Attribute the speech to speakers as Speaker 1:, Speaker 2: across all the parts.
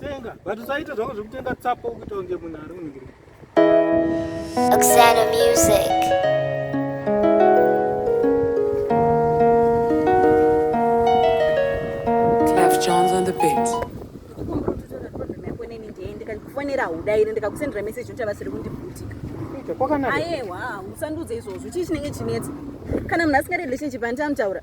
Speaker 1: Tenga,
Speaker 2: but usaita zvako zvekutenga tsapo kuita kunge munhu ari kuningirwa.
Speaker 3: Oksana
Speaker 4: Music. Clef Jones on
Speaker 5: the beat. ndikakufonera haudairi ndikakusendera message kuti havasiri kundibvutika
Speaker 2: ayewa
Speaker 5: usandudze izvozvo chii chinenge chinetsa kana munhu asingadi relationship handiti amutaura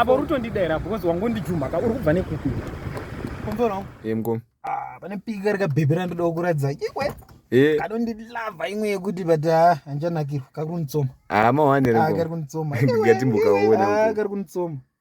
Speaker 5: apo rutondidaira because
Speaker 2: wangondijumhaka uri kubva nekupi kumbono emko ah,
Speaker 1: pane pika
Speaker 2: rikabhebhi randoda kukuratidza iwe eh. kadondilava imwe yekuti but ah, handichanakirwa kari kunditsoma ah,
Speaker 1: kari kunditsoma kari kunditsoma